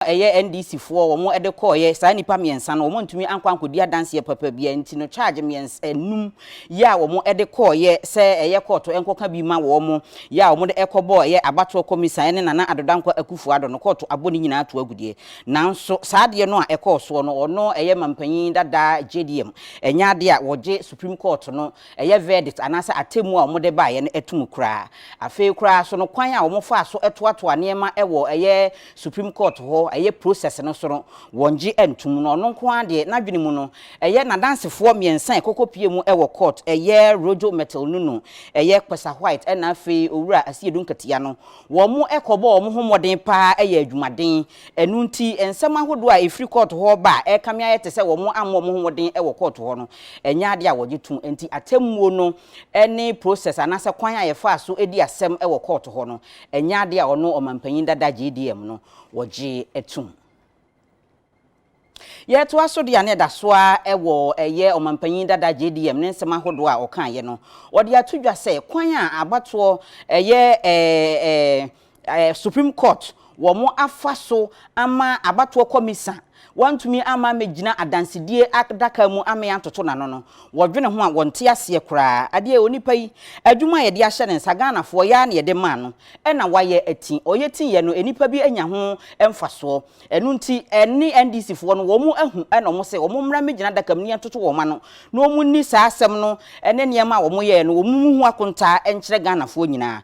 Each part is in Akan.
a ɛyɛ NDC foɔ a wɔn de kɔeɛ, saa nnipa mmiɛnsa no, wɔn antumi ankɔ ankɔdi adanseɛ papa biara nti no charge mmiɛns ɛnum yɛ a wɔn de kɔeɛ sɛ ɛyɛ kɔɔto nkɔka bi ma wɔn yɛ a wɔn de ɛkɔbɔɔ ɛyɛ abatoɔ kɔmisa ɛne Nana Addo Dankwa Akuffo Addo no kɔɔto abɔ ne nyinaa ato agu deɛ nanso saa adeɛ no a ɛkɔɔ soɔ no ɔno ɛyɛ mampanyin dada JDM ɛnyɛ adeɛ a wɔgye Supreme Court no ɛyɛ verdict anaasɛ atɛmmuo a wɔn de baeɛ no ɛtom koraa afei koraa nso no kwan a wɔn faa so toatoa nneɛma ɛwɔ ɛyɛ Supreme Court hɔ, ɛyɛ process no so no, wɔngye ntom na ɔno nko ara deɛ n'adwene mu no, ɛyɛ n'adansefoɔ mmiɛnsa a ɛkɔkɔ pie mu wɔ court, ɛyɛ Rojo Myrtle Nunu, ɛyɛ Kpesa White ɛna afei Owura Asiedu Nketeya no, wɔn mo kɔbɔ wɔn ho mmɔden pa ara yɛ adwumaden, ɛno nti nsɛm ahodoɔ a ɛfiri court hɔ ba a ɛkame ayɛ te sɛ wɔn mo ammɔ wɔn ho mmɔden wɔ court hɔ no, ɛnyɛ adeɛ a wɔgye tom, ɛnti atɛmmuo no ne process anaasɛ kwan a yɛfaa so dii asɛm wɔ court hɔ no, Ɛnyɛ ade a ɔno ɔmampanyin dada JDM no wɔgyee tom. Yɛtoa so de a na ɛda so ara wɔ ɛyɛ ɔmampanyin dada JDM ne nsɛm ahodoɔ a ɔkaeɛ no, wɔde ato dwa sɛ kwan a abatoɔ ɛyɛ ɛɛ ɛɛ Supreme Court wɔn afa so ama abatoɔ kɔmisa Wɔantumi amma ammɛgyina adansedie adaka mu ammɛn antoto n'ano no, wɔdwene ho a wɔnte aseɛ koraa. Adeɛ onipa yi, adwuma a yɛde ahyɛ ne nsa, Ghanafoɔ yɛ ara na yɛde maa no na wayɛ ati. Ɔyɛ ti yɛ no, nnipa bi anya ho mfasoɔ. Ɛno nti, ɛne NDCfoɔ no, wɔn ahu na wɔn sɛ wɔn mmra mmɛgyina adaka mu na yɛntoto wɔn ano na wɔn nni saa asɛm no ne nneɛma a wɔn yɛɛ no, wɔn mu ho akontaa nkyerɛ Ghanafoɔ nyinaa.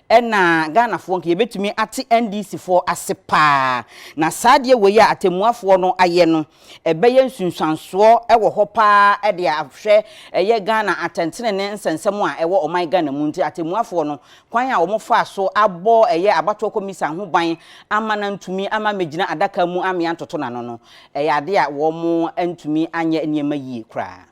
Ɛna Ghanafoɔ nka yɛbɛtumi ate NDC foɔ ase paa. Na saa adeɛ wei a atɛmmuafoɔ no ayɛ no, ɛbɛyɛ nsunsuansoɔ wɔ hɔ paa de ahwɛ ɛyɛ Ghana atɛntenenee nsɛnsɛm a ɛwɔ ɔman Ghana mu. Nti atɛmmuafoɔ no, kwan a wɔn faa so abɔ ɛyɛ abatoɔ kɔmisan ho ban ama no antumi ama ammɛgyina adaka mu ammea ntoto n'ano no, ɛyɛ adeɛ a wɔn antumi anyɛ nneɛma yie koraa.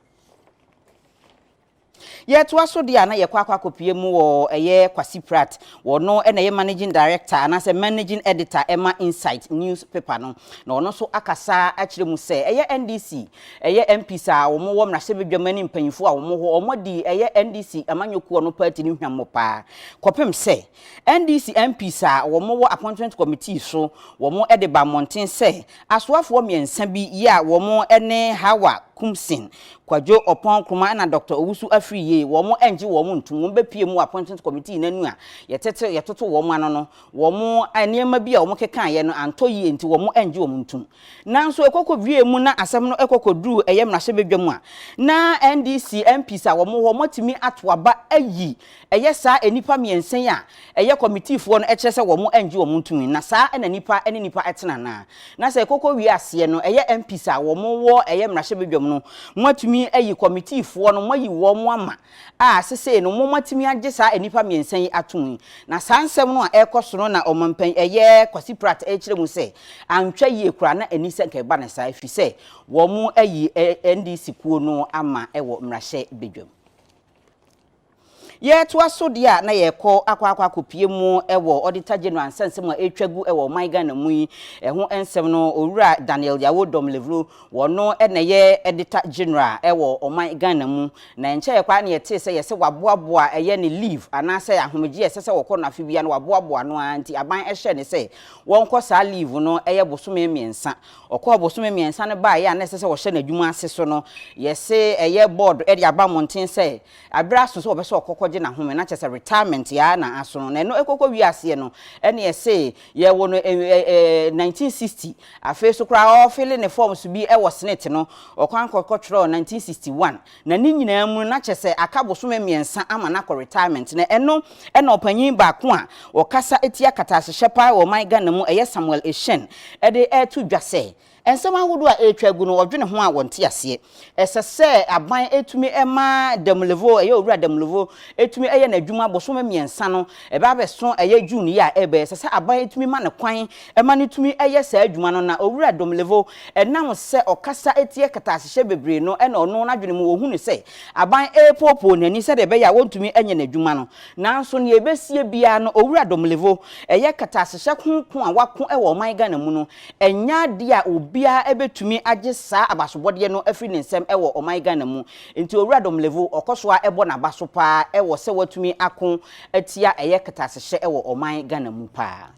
Yɛtoa so deɛ a na yɛkɔ akɔ akɔpue mu wɔ ɛyɛ Kwasi Pratt, ɔno na ɛyɛ Managing Director anaasɛ Managing Editor ɛma Insight news paper no, na ɔno nso akasa akyerɛ mu sɛ ɛyɛ NDC ɛyɛ MPs a wɔn wɔ mmarahyɛbadwam ɛne mpanyinfoɔ a wɔn wɔ hɔ wɔn adi ɛyɛ NDC amanyɔkuo no party no hwammɔ paa kɔpem sɛ NDC MPs a wɔwɔ Appointment Committee so wɔn de ba mmɔnten sɛ asoafoɔ mmiɛnsa bi yi a wɔn ne Hawa Kumsin, Kwadwo Ɔpɔn Nkrumah ɛna Doctor Owusu Afriyie wɔn ngye wɔn ntum wɔn bɛpue mu wɔ Appointment Committee no anu a yɛtete yɛtoto wɔn ano no wɔn nneɛma bi a wɔn kekaeɛ no antɔ yie nti wɔn ngye wɔn ntum nanso ɛkɔkɔ wie mu na asɛm no ɛkɔkɔ duru ɛyɛ mmarahyɛbadwa mu a na NDC MPs a wɔn wɔ hɔ wɔatumi ato aba ayi Ɛyɛ saa nnipa mmiɛnsa yi a ɛyɛ kɔmitifoɔ no kyerɛ sɛ wɔn angye wɔn ntomi, na saa na nnipa ne nnipa tena no ara. Na sɛ ɛkɔkɔ wie aseɛ no, ɛyɛ MPs a wɔn wɔ ɛyɛ mmarahyɛbadwam no, mo atumi ayi kɔmitifoɔ no, mo ayi wɔn ama a sesei no mo mo atumi agye saa nnipa mmiɛnsa yi atomi. Na saa nsɛm no a ɛrekɔ so no na ɔmanpanin ɛyɛ Kwasi Pratt ɛrekyerɛ mu sɛ antwa yie koraa na ɛni sɛ nka ɛba no saa ɛfiri sɛ wɔn ayi NDC kuo no ama wɔ mmarahyɛbadwam. Yɛtoa so deɛ a na yɛrekɔ akɔ akɔ akɔpie mu wɔ Auditor General nsɛnsɛm a ɛretwa gu wɔ ɔman Ghana mu yi ho nsɛm no, Owura Daniel Yawo Domlevlo, ɔno na ɛyɛ Auditor General wɔ ɔman Ghana mu, na ɛnkyɛeɛ koraa na yɛtee sɛ yɛse waboaboa ɛyɛ ne leave anaasɛ ahomegyeɛ a ɛsɛ sɛ ɔkɔ no afe biara no waboaboa ano ara nti aban hyɛɛ no sɛ ɔnkɔ saa leave no ɛyɛ bosome mmiɛnsa. Ɔkɔɔ bosome mmiɛnsa no baeɛ a na ɛsɛ sɛ ɔhyɛ n'adwuma ase so no, yɛse ɛyɛ board de aba mmɔnten sɛ, Aber a aso sɛ ɔbɛ sɛ ɔkɔkɔ gye n'ahome na kyɛsɛ retirement yɛ ara na aso no na ɛno ɛkɔkɔ wie aseɛ no ɛne ɛse yɛ wo no ɛɛ ɛɛ 1960 afei so koraa ɔɔ file ne forms bi ɛwɔ senate no ɔkwan kɔ kɔ twerɛɔ 1961 na ne nyinaa mu no na kyɛsɛ aka bosome mmiɛnsa ama no akɔ retirement na ɛno ɛna ɔpanyin baako a ɔkasa tia kataase hyɛ paa wɔ ɔman Ghana mu ɛyɛ Samuel Ehyɛn ɛde ɛɛto dwa sɛ Nsɛm ahodoɔ a ɛretwa agu no, wɔdwene ho a wɔnte aseɛ. Ɛsɛ sɛ aban tumi ma Demlevo, ɛyɛ Owura Demlevo, tumi yɛ n'adwuma bosome mmiɛnsa no, ɛbɛ abɛso ɛyɛ June yi a ɛreba yi. Ɛsɛ sɛ aban tumi ma no kwan ma no tumi yɛ saa adwuma no na Owura Demlevo, ɛnam sɛ ɔkasa tia katasehyɛ bebree no na ɔno n'adwene mu ɔhu no sɛ aban repoopoo n'ani sɛdeɛ ɛbɛyɛ a wɔntumi nyɛ n'adwuma no. Nanso nea ɛbɛsie biara no, Owura Demlevo, ɛyɛ katasehyɛ ko ko a wɔako wɔ ɔman Ghana mu no, Ɛnyɛ adeɛ a obiara bɛtumi agye saa abasobɔdeɛ no afiri ne nsam wɔ ɔman Ghana mu. Nti Owura Domlevo, ɔkɔ so ara bɔ n'aba so pa ara wɔ sɛ watumi ako atia ɛyɛ katasehyɛ wɔ ɔman Ghana mu pa ara.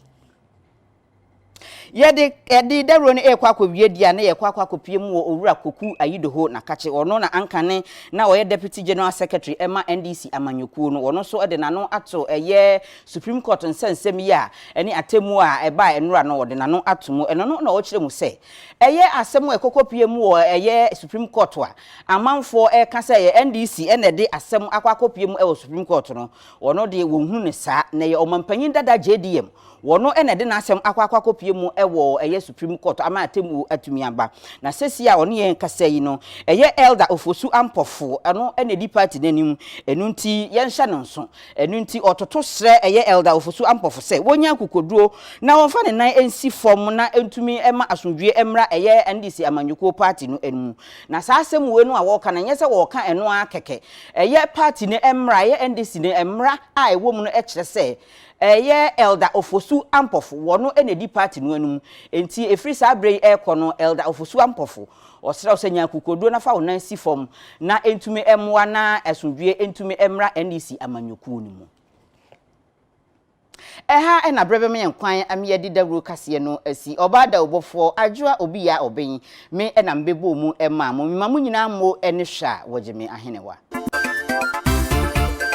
Yɛde, yɛde dawuro no rekɔ akɔwie deɛ a, na yɛrekɔ akɔ akɔpue mu wɔ Owura Koku Ayidoho Nakakye. Ɔno na anka ne, na ɔyɛ Deputy General Secretary ma NDC amanyɔkuo no. Ɔno nso de n'ano ato ɛyɛ Supreme Court nsɛnsɛm yi a ɛne atemmu a ɛbae nnora no wɔde n'ano ato mu. Ɛno no na ɔkyerɛ mu sɛ, Ɛyɛ asɛm a ɛkɔkɔ pie mu wɔ ɛyɛ Supreme Court a amanfoɔ reka sɛ ɛyɛ NDC na ɛde asɛm akɔ akɔpue mu wɔ Supreme Court no, wɔn deɛ wɔnhunu no saa. Na ɛyɛ Ɔmanpanyin dada JDM, wɔn na ɛde n'asɛm akɔ akɔ akɔpue mu wɔ ɛyɛ Supreme Court ama atemmuo atumi aba. Na sesie a ɔne yɛn rekasa yi no, ɛyɛ Elder Ofosu-Ampofo, ɔno na ɛdi party no anim, ɛno nti yɛnhyɛ no nso Ɛno nti ɔtoto srɛ ɛyɛ Elder Ofosu Ampofo sɛ wɔnya akokoduro na wɔmfa ne nan nsi fam na ɛntumi mma asomdwoeɛ mmra ɛyɛ NDC amanyɔkuo party no mu. Na saa asɛm wei no a wɔreka no ɛnyɛ sɛ wɔreka ɛno ara kɛkɛ. Ɛyɛ party no mmra, ɛyɛ NDC no mmra a ɛwɔ mu no kyerɛ sɛ ɛyɛ Elder Ofosu Ampofo, wɔno na ɛdi party no anim. Ɛnti ɛfiri saa berɛ yi ɛrekɔ no Elder Ofosu Ampofo Ɔsrɛ wo sɛ nya akokoɔduro na fa wo nan si fam na ɛntumi mmoa na asomdwoeɛ ntumi mmra NEC amanyɔkuo no mu. Ɛha na berɛ bɛma yɛn kwan ma yɛde dawuro kaseɛ no asi. Ɔbaa dawurobɔfoɔ, Adwoa Obiya Obeng, me na mebɛbɔɔ mu maa mo. Mema mo nyinaa mmo ne hwɛ a wɔgye me ahenewa.